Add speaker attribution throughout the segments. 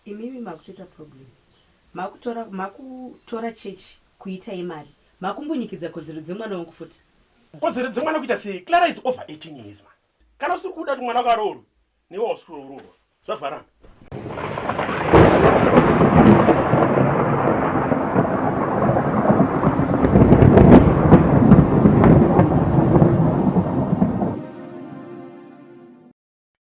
Speaker 1: Imimi makutoita problem makutora makutora church kuita yemari makumbunyikidza kodzero dzemwana wangu futi. Kodzero dzemwana
Speaker 2: kuita sei? Clara is over 18 years man. Kana usiri kuda kuti mwana wako aroorwe newe wausi kuroorwa zvavharana.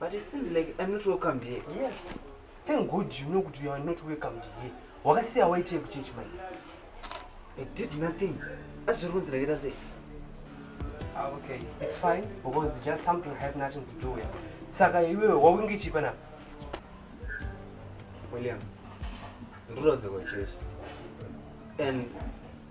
Speaker 3: But it seems like I'm not welcomed here. Yes. Thank
Speaker 2: God you know kuti you are not welcomed here. Wakasiya waitei kuchechi mai? I
Speaker 3: did nothing. Asi zviri kunzi ndakaita sei?
Speaker 2: Ah, okay, it's fine because just something have nothing to do with. Saka iwewe wawinge chipa na?
Speaker 3: William, ndinodzokera chechi. And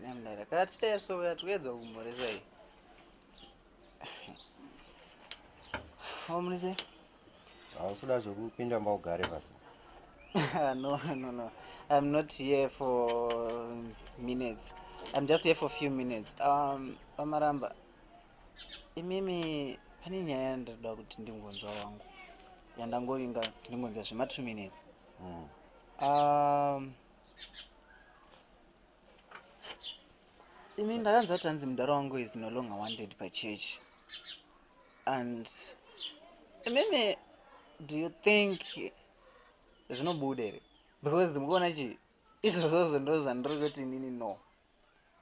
Speaker 4: Nemdara
Speaker 3: kati teso uya tuedza kumhoresa iyi. Omrise. Hausuda
Speaker 4: zvekupinda mbaugare pasi. no,
Speaker 3: no, no. I'm not here for minutes. I'm just here for few minutes. Um, Pamaramba. Imimi pane nyaya yandoda kuti ndingonzwa wangu. Yandangovinga ndingonzwa zvema 2 minutes. Mm. Um, Imi ndakanzwa kuti hanzi mudhara wangu is no longer wanted pachurch and imimi do you think zvinobuda here because mukuona chi izvozvozvo ndo zvandiri kuti inini no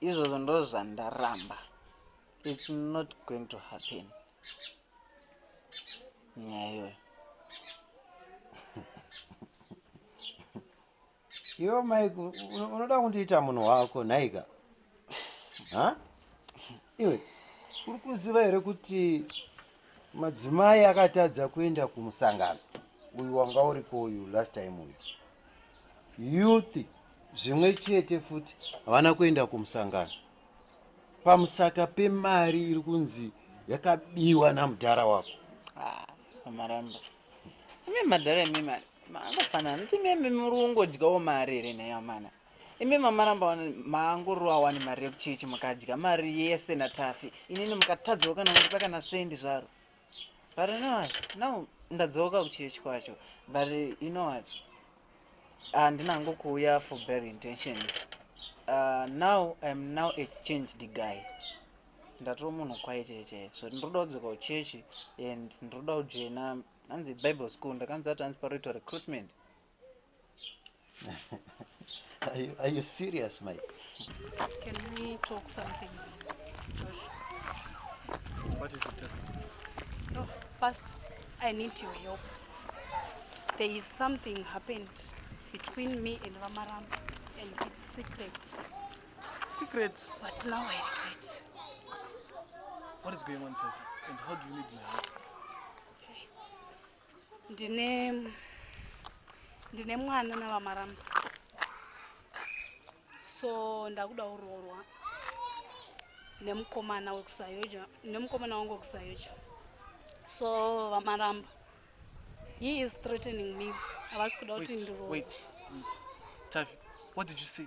Speaker 3: izvozvo ndo zvandaramba its not going to happen nyaya iyoyo
Speaker 4: Iwe Mike unoda kundiita munhu wako nhaika? Ha? Iwe uri kuziva here kuti madzimai akatadza kuenda kumusangano uyu wanga uriko uyu last time uyu youth zvimwe chete futi havana kuenda kumusangano pamusaka pemari iri kunzi yakabiwa namudhara wako ah,
Speaker 3: amaramba Imi madhara imi mani maangofanana noti meme muri kungodyawo mari here nhai amana imi mamaramba wani maangorova wani mari yekuchechi mukadya mari yese natafi inini mukatadzawo kana kundipa kana sendi zvaro but you know what now ndadzoka kuchechi kwacho but you know what handina ah, hangu kuuya for bad intentions uh, now iam now a changed guy ndatoo munhu kwaite chete so ndinoda kudzoka kuchechi and ndinoda kujoina hanzi bible school ndakanzi ati hanzi paroitwa recruitment are,
Speaker 4: you, are you serious my can
Speaker 1: we talk something Josh?
Speaker 2: what is it no, oh,
Speaker 1: first i need your help there is something happened between me and vamaramba and its secret
Speaker 2: Secret. But now I
Speaker 1: regret.
Speaker 2: What is going on, Tati? And how do you need my help? Okay. Ndine
Speaker 1: ndine mwana navamaramba. So ndakuda uroorwa nemukomana wekusayoja nemukomana wangu wekusayoja. So vamaramba. He is threatening me. Havasi kuda kuti ndiroorwe.
Speaker 2: Wait, wait. Tavi, what did you say?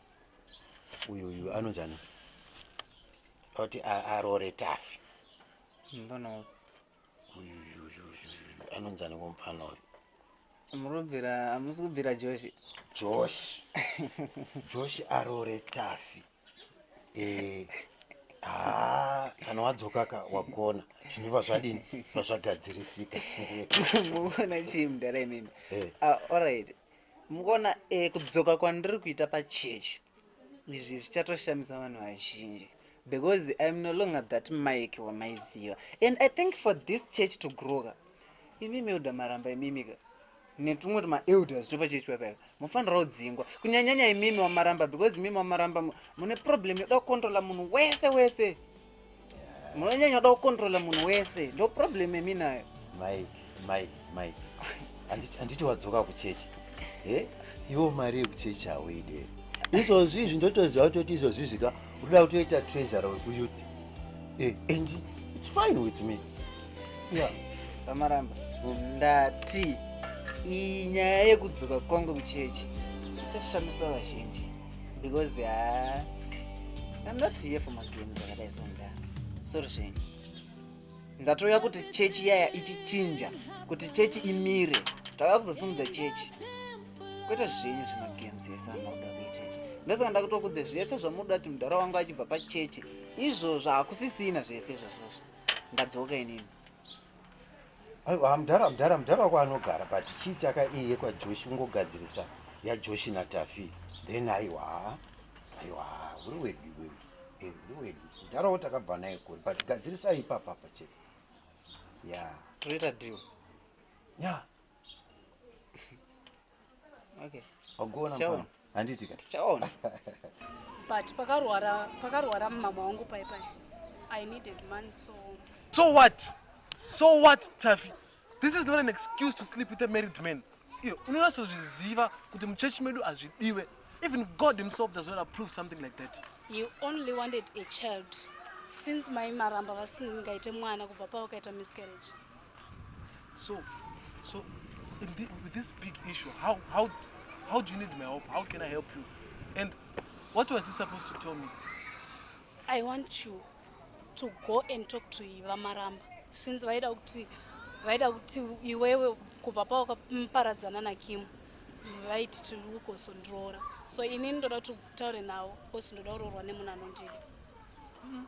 Speaker 4: uyu uyu anonzana oti arore tafi anonzani komufana uyu murobvira
Speaker 3: amusi kubvira joshi joshi
Speaker 4: joshi arore tafi eh, haa kana wadzoka ka wagona zvinova zvadini zvazvagadzirisika
Speaker 3: muvona chii mudhara imimi eh. ah, allright Mukuona eh, kudzoka kwandiri kuita pachurch izvi zvichatoshamisa vanhu vazhinji because I'm no longer that Mike wamaiziva and I think for this church to grow ka imimi elder maramba imimi ka netumwe tuma elders topa church paipa mufanira kudzingwa kunyanyanya imimi wamaramba because imimi wamaramba mune problem yoda kukontrola munhu wese wese munonyanya da kukontrola munhu wese ndo problem yemi nayo mai mai
Speaker 4: mai handiti wadzoka kuchechi e iwo mari yekuchechi hauide izvozvi izvi ndotoziva kutoti izvozvi zvika unoda kutoita trezara wekuyuti e and its fine with me ya pamaramba
Speaker 3: ndati iyi nyaya yekudzoka kwangu kuchechi ichashamisa vazhinji because uh, i'm not here for magames akadai sonda sorry zvenyu ndatouya kuti chechi iyaya ichichinja kuti chechi imire tauya kuzosimudza chechi kwete zvenyu zvemagames ese anoda kuita izvi ndosaka ndakutokudze zvese zvamuda kuti mudhara wangu achibva pachechi izvozvo hakusisina zvese izvozvozvo ndadzoka inini
Speaker 4: aiwa mdhara mdhara mdhara wako anogara but chii taka iyi yekwajoshi ungogadzirisa yajoshi natafi then aiwa aiwa uri wedu wewe eh, uri wedu mdhara wo takabva naye kuri but gadzirisa ipapapa chete ya toita deal
Speaker 3: ya tichaona
Speaker 5: but pakarwara pakarwara mama wangu pai pai i needed money so so what
Speaker 2: so what tafi this is not an excuse to sleep with a married man iyo unonasozviziva kuti muchechi medu hazvidiwe even god himself does not approve something like that you only wanted
Speaker 5: a child since mai maramba vasingaite mwana kubva pavakaita miscarriage
Speaker 2: so so in the, with this big issue how how how do you need my help how can i help you and what was he supposed to tell me i
Speaker 5: want you to go and talk to iva maramba since vaida kuti vaida kuti iwewe kubva pawakaparadzana nakimu vaiti tirikukosondiroora so inini ndoda kuti utaure navo because ndoda kuroorwa nemunhu anondida mm.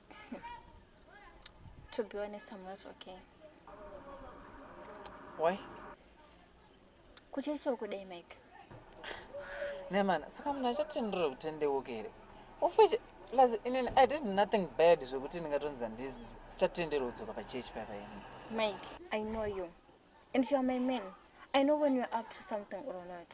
Speaker 6: to be honest i'm not okay
Speaker 3: why kuchechi
Speaker 6: uri kudei mike
Speaker 3: nemana saka munhu achatendera kuti tendeuke here ofeche plus inini i did nothing bad zvekuti ndingatonzi handizi chatendero kudzoka pachechi paya paini mike i know
Speaker 6: you and youare my man i know when youare up to something or not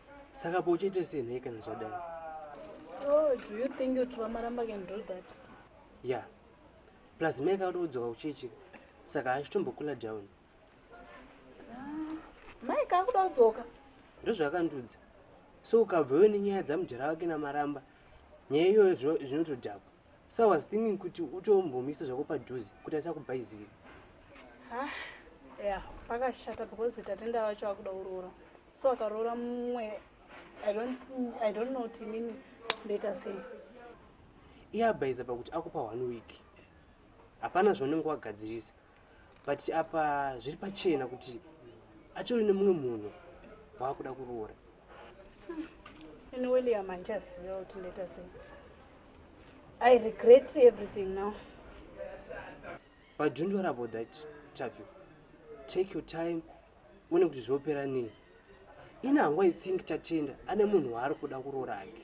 Speaker 7: saka ko uchaita sei nhai kana zvadai oh,
Speaker 5: do you think kuti vamaramba can do that ya yeah.
Speaker 7: plus mai kakuda kudzoka kuchechi saka achitombokula down ah,
Speaker 5: mai kakuda kudzoka ndozvakandiudza
Speaker 7: so ukabvewo nenyaya dzamujara wake namaramba nyaya iyoyo zvinotodhakwa Bsa was thinking kuti utombomuisa zvako padhuze kuti asakubhaizire. Hah
Speaker 5: yeah pakashata because Tatenda vacho vakuda kuroora so akaroora mumwe I don't think I don't know kuti inini ndoita sei.
Speaker 7: Iye abhaiza pakuti akupa one week hapana zvaunenge wagadzirisa. but apa zviri pachena kuti atori nemumwe munhu waakuda kuroora hmm. ini
Speaker 5: william handichaziva kuti ndoita sei i regret everything now
Speaker 7: but don't worry about that tavi take your time one kuti zvinopera nei ini hangu i think tatenda ane munhu waari kuda kuroora ake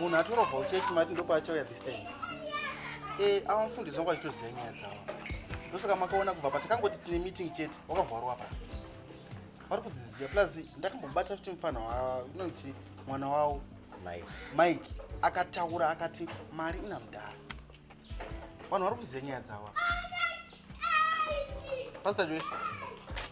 Speaker 4: munhu atorobva uchechi mati ndopaachauya this time e eh, ava mufundisi wangu achitoziva nyaya dzavo ndosaka makaona kubva patakangoti tine meeting chete wakavharwa pa vari kudziziva plus ndakambobata kuti mufana unonzi mwana wavo mike akataura akati mari ina mudhara vanhu vari kuziva nyaya dzavo pasita joyce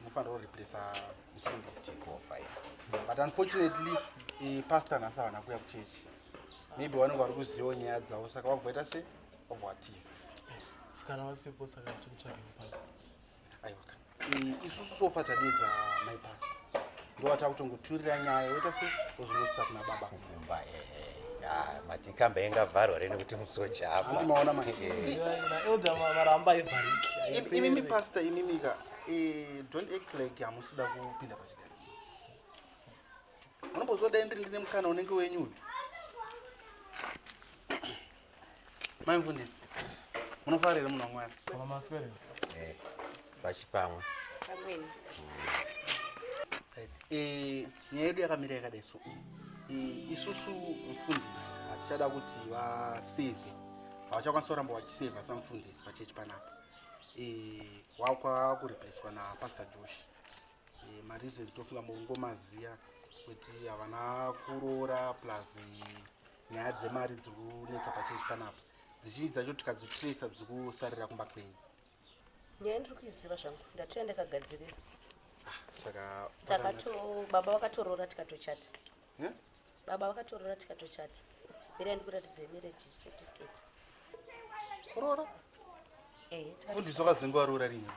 Speaker 4: munofanira kureplace mufundisi but unfortunately eh, pastor nhasi havana kuya kuchechi maybe vanenge vari kuzivawo nyaya dzavo saka vabvoita se vabva vatiza sikana
Speaker 2: vasipo saka tikutsvagei pano aiwa
Speaker 4: eh, isusu sofa tadedza my pastor ndowata kutongoturira nyaya woita se ozvinoita kuna baba kumba
Speaker 8: matikamba inga vharwa rene kuti musoja apa ndimaona
Speaker 4: maeldamaramba
Speaker 2: ivhariki imimi pastor
Speaker 4: imimika eh, don't act like hamusida kupinda pachigaro unombozodai ndiri ndine mukana unenge wenyu uyu Maimvundisi, munofara here munhu waMwari? Kana maswere. Eh,
Speaker 8: pachipamwe.
Speaker 5: Amweni. Right.
Speaker 4: Eh, nyaya yedu yakamira yakadai so. Eh, isusu mfundisi hatichada kuti vasevhe. Havachakwanisa kuramba vachisevha samfundisi pachechi panapa. Eh, wakwa kureplacewa naPastor Josh. Eh, mareasons tofunga mungomaziya kuti havana kuroora plus eh, Nyaya dzemari dziri kunetsa pachechi panapa dzichinji dzacho tikadzitracer dziri kusarira kumba kwenyu? Nyaya
Speaker 1: ndiri kuiziva zvangu ndatouya ndakagadzirira. Ah, saka
Speaker 4: takato
Speaker 1: baba vakatoroora tikatochata. Huh? Baba vakatoroora tikatochata. Mirai ndikuratidzei marriage certificate.
Speaker 4: kuroora eh, fundiswa kazingo aroora rinhi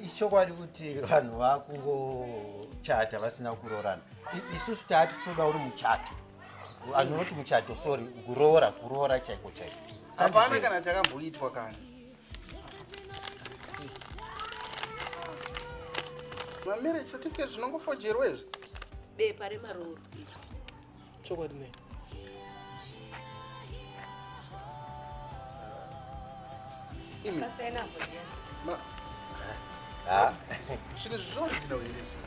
Speaker 4: ichokwadi
Speaker 8: kuti vanhu vakungochata vasina kuroorana isusu taati toda uri muchato anoti muchato sorry kuroora kuroora chaiko chaiko hapana kana
Speaker 4: takamboitwa kana mamarriage certificate zvinongofojerwa izvi bepa
Speaker 1: remarooro
Speaker 2: chokwadi
Speaker 1: nei
Speaker 4: zvinhu zvizvozvina uirezvi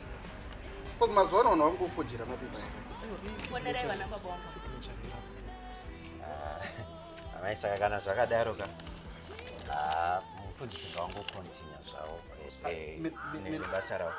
Speaker 4: bcause mazuva ano vanhu vari kufojera mapepa
Speaker 8: amai saka kana zvakadaro ka mufundisi zvawangokontinya zvavo nebasa ravo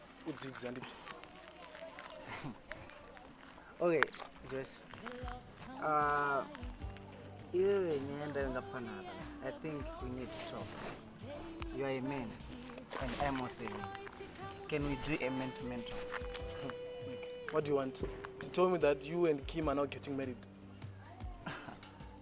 Speaker 2: kudzidza handiti
Speaker 3: okay joyce uh, iwewe nyaya ndayo ngapanaka i think we need to talk you are a man and i am also a man can we do a man to man talk what do you
Speaker 2: want to tell me that you and kim are not getting married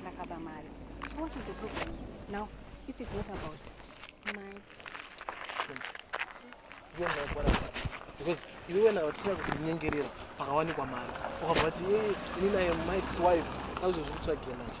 Speaker 1: ndakaba mari so what is the problem now if it's not about mari
Speaker 2: because iwe wena watichira kutinyengerera pakawanikwa mari ukabva vati e ini naye mikes wife saizvo zviri kutsvagira manje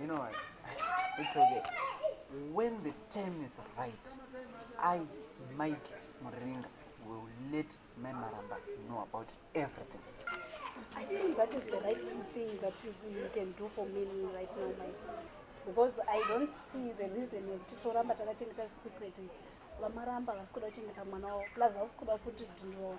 Speaker 3: You know what? It's okay. When the time is right, I, Mike Muringa, will let my Maramba know about everything. I
Speaker 5: think that is the right thing that you, you can do for me right now, Mike. Because I don't see the reason yekuti toramba takachengeta secret vamaramba vasikuda kuchengeta mwana wavo plus vasikuda kuti ndinoona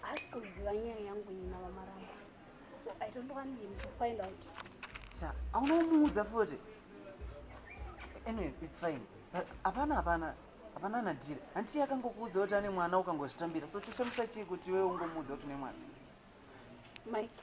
Speaker 5: Haasi kuziva nyaya yangu iyi navamarambo. So I don't want him to find out. Sha, hauna
Speaker 3: kumuudza futi. Anyways, it's fine. But hapana hapana hapana nadhiri. Hanti akangokuudza kuti ane mwana ukangozvitambira. So choshamisa chii kuti iwe ungomuudza kuti une mwana?
Speaker 5: Mike.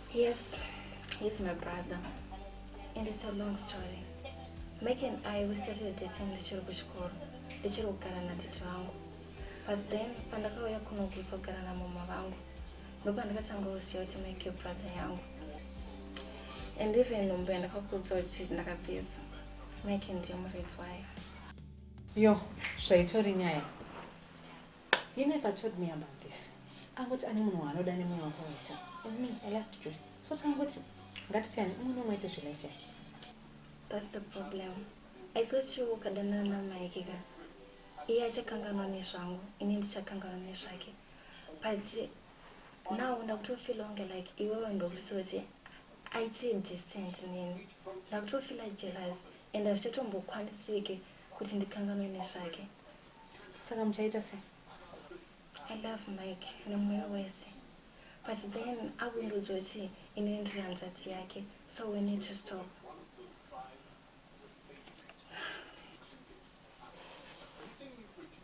Speaker 6: Yes, he's my brother. And it's a long story. Mike and I, we started dating ndichiri kuchikoro, ndichiri kugara natete vangu. But then, pandakauya kuno kuzogara namama vangu, ndopandakatanga kuziva kuti Mike brother yangu. And even nhumbu yandakakuudza kuti ndakapedza, Mike ndiye muridzi wayo. Yo, zvaitori nyaya.
Speaker 1: He never told me about this. Angoti ane munhu waanoda nemoyo wake wese. And me, I loved Judy. So tangoti ngatisiyane umwe nomwe aite zvelife yake. That's the
Speaker 6: problem. I thought you ukadanana naMike ka. Iye achakanganwa nezvangu, ini ndichakanganwa nezvake. But now ndakutofeel kunge like iwewe ndokutoti aite distant neni. Ndakutofeel jealous and hazvichatongokwanisike kuti ndikanganwe nezvake saka
Speaker 1: muchaita se
Speaker 6: i love mike nemoyo wese but then akundiudza kuti inini ndiri hanzvadzi yake so we need to stop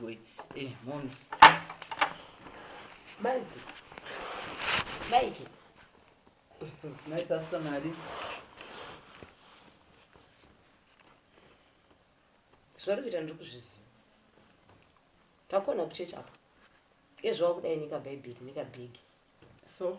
Speaker 3: Boy. Eh, moms.
Speaker 9: Mike. Mike.
Speaker 3: My pastor Mari.
Speaker 9: Zvauri kuita ndiri kuzviziva. Takona kuchechi apa. Iye zvawakudai nika bhaibheri nika bhegi. So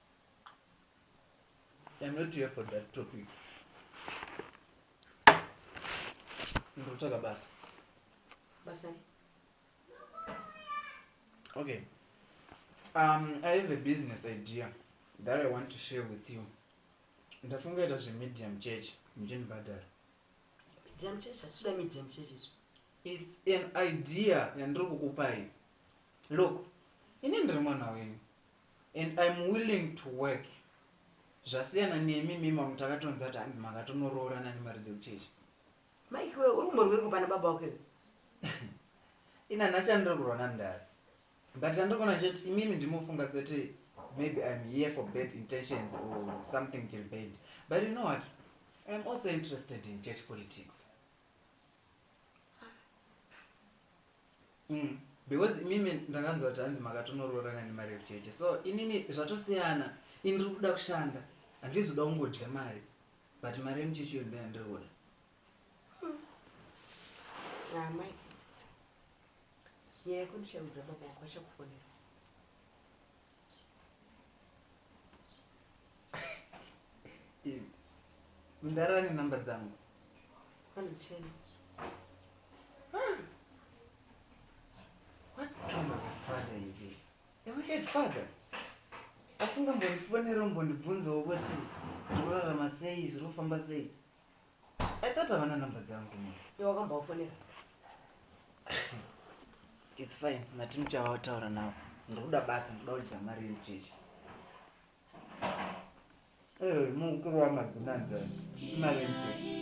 Speaker 3: I'm not here for that topic. Ndotaka basa. Basa. Okay. Um, I have a business idea that I want to share with you. Ndafunga ita zve medium church mjini Badar. Medium
Speaker 9: church, asuda medium church isu. It's an
Speaker 3: idea yandiri kukupai. Look, ini ndiri mwana wenyu. And I'm willing to work zvasiyana nemi imi mamwe takatonzwa kuti hanzi makatonoroorana nemari dzekuchechi. Mike iwe
Speaker 9: urumbwa rweko pana baba wako iwe. Ini
Speaker 3: handina chandiri kurwa namdara but chandiri kuona chete imimi ndiri mofunga seti maybe I'm here for bad intentions or something chiri bad but you know what I'm also interested in church politics. Umm because imimi ndakanzwa kuti hanzi makatonoroorana nemarriage chete so inini zvatosiyana ini ndiri kuda kushanda handizi kuda kungodya mari but mari yemucheche iyo ndoyandiri kuda
Speaker 9: Haa amai nyaya yako ndichaudza baba vako vachakufonera
Speaker 3: mdara ane namba
Speaker 9: dzangu
Speaker 3: asingambondifonero mbondibvunzawo kuti zvorarama sei zvinofamba sei I thought havana number dzangu mom. Iwe wakambovafonera? It's fine Martin uchavataura navo. Ndiri kuda basa, ndiri kuda kudya mari yemucheche. Eh, mukuru wamabhinanza imari yemucheche.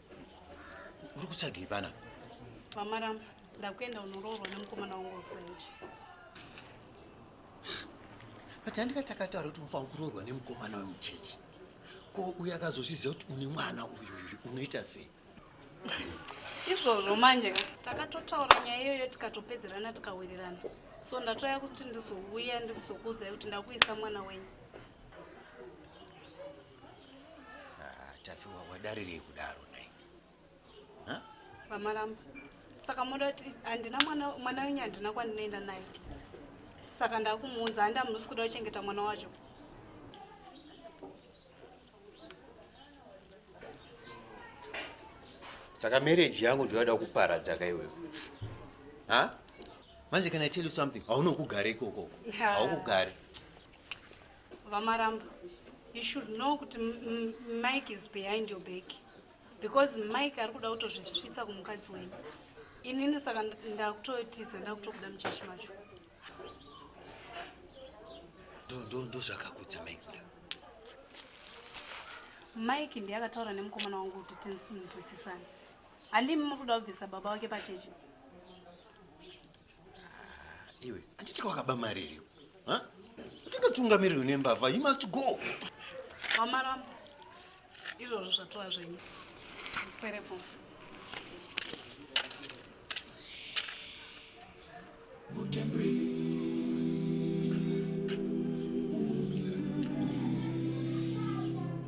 Speaker 8: Uri kutsvagei pana? Mama Ramba,
Speaker 5: ndakuenda unoroorwa nemukomana wangu Rusaiji.
Speaker 8: But handika takataura kuti unofanira kuroorwa nemukomana wemuchechi. Ko uyu akazozviziva kuti une mwana uyu uyu unoita sei?
Speaker 5: Izvozvo manje ka takatotaura nyaya iyoyo tikatopedzerana tikawirirana. So ndatouya kuti ndizouya ndizokuudzai kuti ndakuisa mwana wenyu.
Speaker 8: Ah, Taffy wa- wadarirei kudaro nhai? Huh? vamaramba
Speaker 5: saka moda kuti handina mwana mwana wenyu handina kwandinoenda naye saka ndakumuunza handi hamunosi kuda kuchengeta mwana wacho
Speaker 8: Saka marriage yangu ndoyada kuparadza ka iwewe. Huh? Manje can I tell you something? Haunokugare ikoko. Yeah. Haukugare.
Speaker 5: VaMaramba you should know kuti Mike is behind your back because Mike ari kuda kutozvisvitsa kumukadzi wenyu inini saka ndakutotiza ndakutokuda muchechi macho
Speaker 8: ndozvakakudza Mike
Speaker 5: kuda mike ndiye akataura nemukomana wangu kuti tinzwisisane handimi muri kuda kubvisa baba wake pachechi
Speaker 8: Ah, iwe handiti kwakaba mari iriyo ndingatungamirwe nembavha you must go vamaramba
Speaker 5: izvozvo zvatova zvenyu muserepo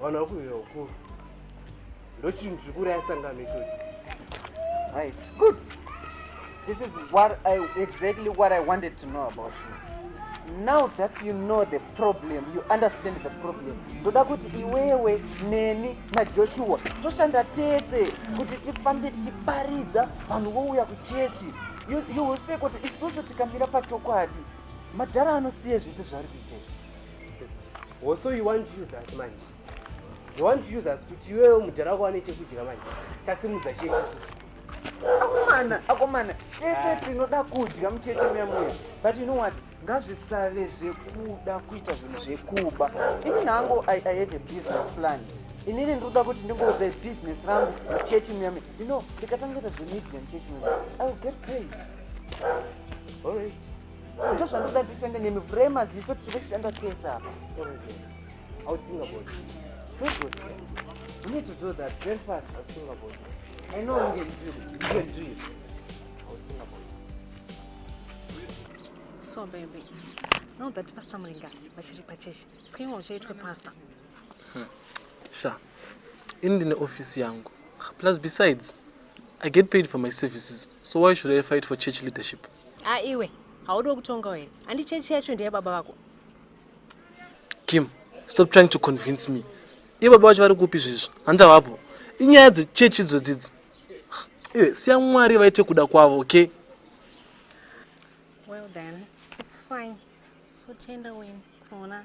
Speaker 7: Vanhu vakuuya uku.
Speaker 3: Ndochinhu chiri kuraya sangano ichocho. Right. Good. This is what I exactly what I wanted to know about you. Now that you know the problem, you understand the problem. Ndoda kuti iwewe neni na Joshua toshanda tese kuti tifambe tichiparidza vanhu vouya kuchechi. You, you will say kuti isusu tikamira pachokwadi madhara anosiye zvese zvaari kuita izvi.
Speaker 7: also you want to use us manje you want to use us kuti iwewe mudhara wako wane chekudya manje tasimudza chii akomana
Speaker 3: akomana tese ah. tinoda kudya mucheche muya muya but you know what ngazvisave zvekuda kuita zvinhu zvekuba ini nangu i have a business plan inini ndikuda kuti ndingouza business rangu muchechi muya muya you know ndikatangeta zvemedia muchechi muya muya i will get paid all right ndozvanoda ndishande nemi vhurai maziso tiri kushanda tese apa
Speaker 9: so baby now that pastor muringa vachiri pachechi sikaimwa uchaitwe pastor hmm.
Speaker 2: sha ini ndine ofisi yangu plus besides i get paid for my services so why should i fight for church leadership Ah iwe,
Speaker 9: haudiwo kutongawo here? Handi chechi yacho ndeyababa vako.
Speaker 2: Kim, stop trying to convince me. Iye baba vacho vari kupi zvizvo? Handi havapo. Inyaya dzechechi idzodzidzi. Iwe, siya Mwari vaite kuda kwavo, okay?
Speaker 9: Well then, it's fine. So tenda wena, kuona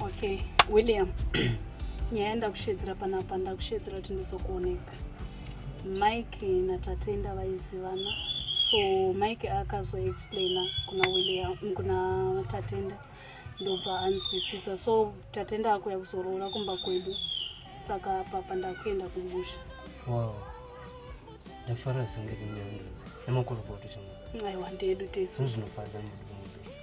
Speaker 5: Okay, William. nyaya ndakushedzera panapa ndakushedzera kuti ndizokuoneka mike natatenda vaizivana so mike akazoexplaina kuna william kuna tatenda ndobva anzwisisa so tatenda akuya kuzoroora kumba kwedu saka papa ndakuenda kumusha wow
Speaker 7: ndafara senge rinyangadza nemakorokoto chama aiwa ndedu tese
Speaker 5: zvinofadza mudu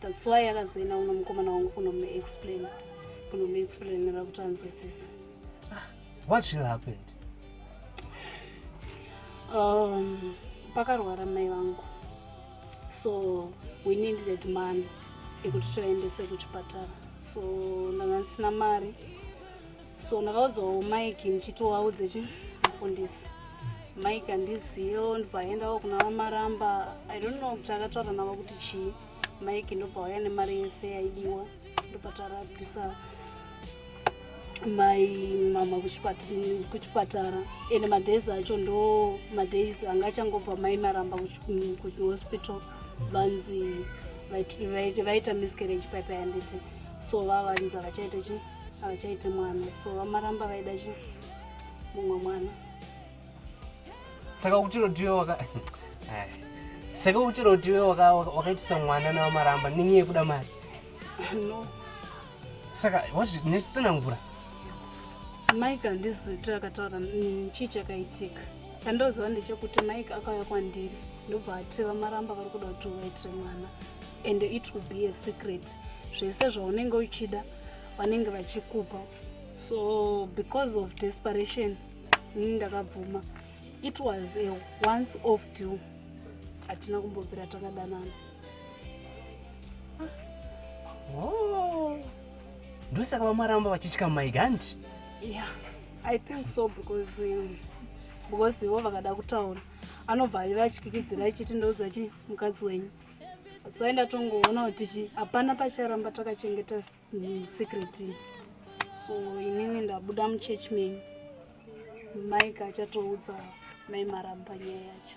Speaker 5: that's why akazoenda uno mukomana wangu kunomuexplain kunomuexplainira kuti anzwisise ah,
Speaker 7: what really happened um,
Speaker 5: pakarwara mai vangu so we needed money ekuti toendese kuchipatara so ndanga ndisina mari so ndakaudzao mike ndichitovaudze chi mufundisi mike andiziyo ndipaaendawo kuna vamaramba i don't know kuti akataura navo kuti chii mike ndopauya nemari yese yaidiwa ndopatarabisa mai mama kuchipatara ende madays acho ndo madays anga achangobva mai maramba kuhospital vanzi vaita miscarriage paipa yanditi so vavanzi havachaita chii havachaite mwana so vamaramba vaida chi mumwe mwana saka
Speaker 7: kuti rodiwe waka eh, saka kuti rodiwe wakaitisa mwana nevamaramba nenyaya yekuda mari no saka nechitsanangura
Speaker 5: mike handizoti akataura mm, chii chakaitika chandoziva ndechekuti mike akauya kwandiri ndobva ati vamaramba vari kuda kuti uvaitire mwana and it will be a secret zvese zvaunenge uchida vanenge vachikupa so because of desperation ini ndakabvuma it was a once off deal hatina kumbopera takadanana
Speaker 7: oh. ndosaka vamaramba vachitya mike hanti yeah
Speaker 5: i think so because um, because ivo vakada kutaura anobva aiva achikwikidzira achiti ndoudza chi mukadzi wenyu tsaenda tongoona kuti chi hapana pacharamba takachengeta mm, secret so inini ndabuda muchurch menyu maika achatoudza mai maramba nyaya yacho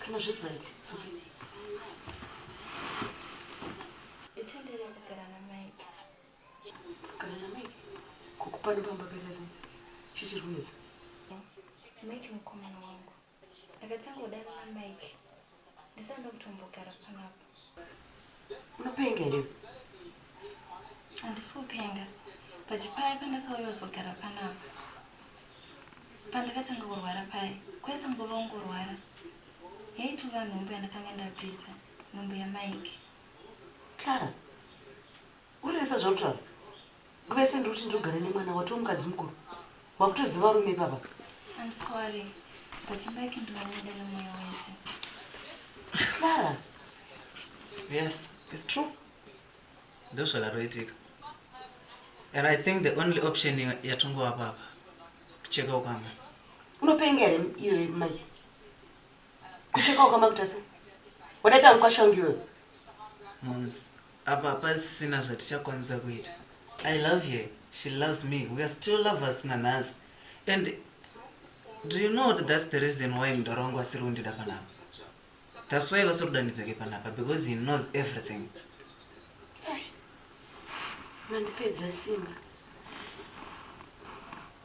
Speaker 6: Kana
Speaker 9: zviri right, it's okay.
Speaker 6: Itendere kugara naMike.
Speaker 9: Kugara naMike? Kukupanda pamba pakaita sei? Chii chiri kunetsa?
Speaker 6: Mike mukomana wangu. Ndakatanga kudanana Mike. Ndisanoda kutombogara panapa.
Speaker 9: unopenga here handisi
Speaker 6: kupenga but paya pandakauya uzogara panapa pandakatanga kurwara paya kwaisa nguva ungorwara yaitova nhumbu yandakanga ndapisa nhumbu yamike clara
Speaker 9: Urinesa zvautaura nguva yese ndiri kuti ndinogara nemwana watoo mukadzi mukuru wakutoziva varume ipapa. I'm sorry
Speaker 6: but imba yake ndinoida nemoyo wese.
Speaker 9: Clara.
Speaker 3: Yes it's true ndozvakaroitika and I think the only option yatongovapa apa kucheka ukama. Unopenga here
Speaker 9: iwe Mike? Kucheka ukama kutase? Wadaita mukwashangu iwewe. Moms.
Speaker 3: Apa hapasisina zvatichakwanisa kuita I love her she loves me we are still lovers nanhasi and do you know kuti that's the reason why mdara wangu asiri kundida panapa that's why vasiri kuda ndidzoke panapa because he knows everything
Speaker 9: Mandipedza simba.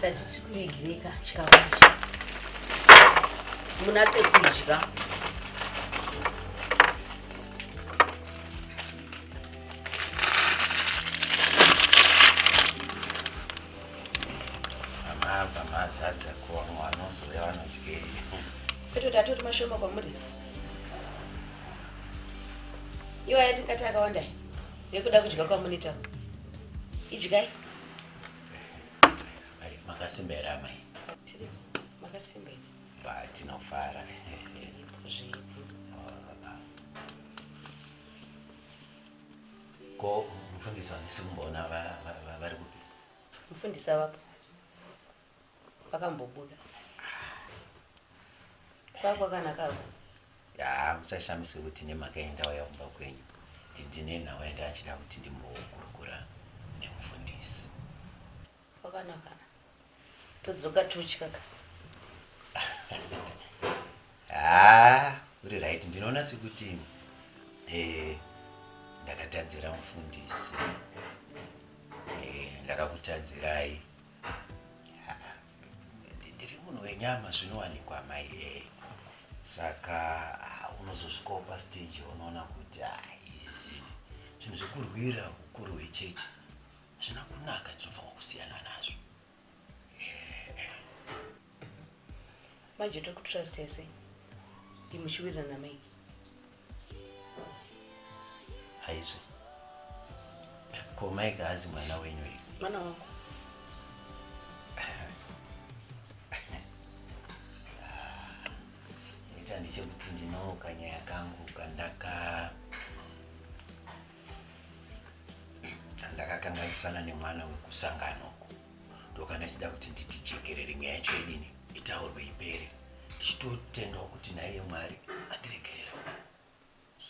Speaker 9: chati chikuigirika chikafu munatse kudya
Speaker 8: amava mazadza kuva mwana ozouya vanodyei petoti
Speaker 9: atoti mashoma kwamuri iwaya tingati akawanda nekuda kudya kwamunitaku idyai
Speaker 8: makasimba here amai
Speaker 9: makasimba here tinofara
Speaker 8: ko mufundisi wandisi kumboona vari kupi mufundisi avapo
Speaker 9: pakambobuda kwakwakanakako yaa
Speaker 8: musashamiswe kuti nemhaka yendauya kumba kwenyu kuti ndine nhau yanga achida kuti ndimbokurukura nemufundisi
Speaker 9: kwakanakana todzoka totyaka
Speaker 8: haa uri right ndinoona sekuti eh, ndakatadzira mufundisi eh, ndakakutadzirai ndiri munhu wenyama zvinowanikwa mai e saka ah, unozosvikawo pastage unoona kuti ah, izvi zvinhu zvekurwira ukuru hwechechi zvina kunaka tinofanira kusiyana nazvo
Speaker 9: manje tiri kutrust yese imuchiwirirana mai
Speaker 8: aizve ko mai kaazi mwana wenyu iyi mwana wangu ita ndichekuti ndinooka nyaya kangu kandaka ndakakanganisirana nemwana wekusangano ndokana achida kuti nditi jekerere nyaya yacho idini itaurwe ipere ndichitotendawo kuti naiye mwari andiregerera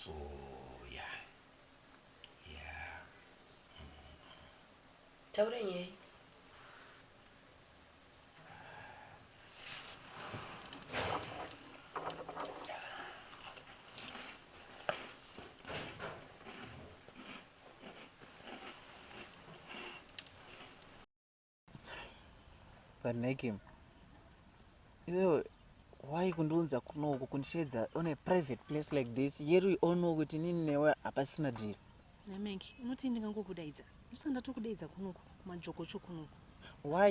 Speaker 8: so ya ya
Speaker 9: taure nyaya
Speaker 3: vanekim iwewe why kundiunza kuno uku kundisheedza on a private place like this yeru ono kuti nini newe hapasina dhiri namanki unoti
Speaker 1: ndingangokudaidza ndosaka ndatokudaidza kunoku kumajokocho kunoku why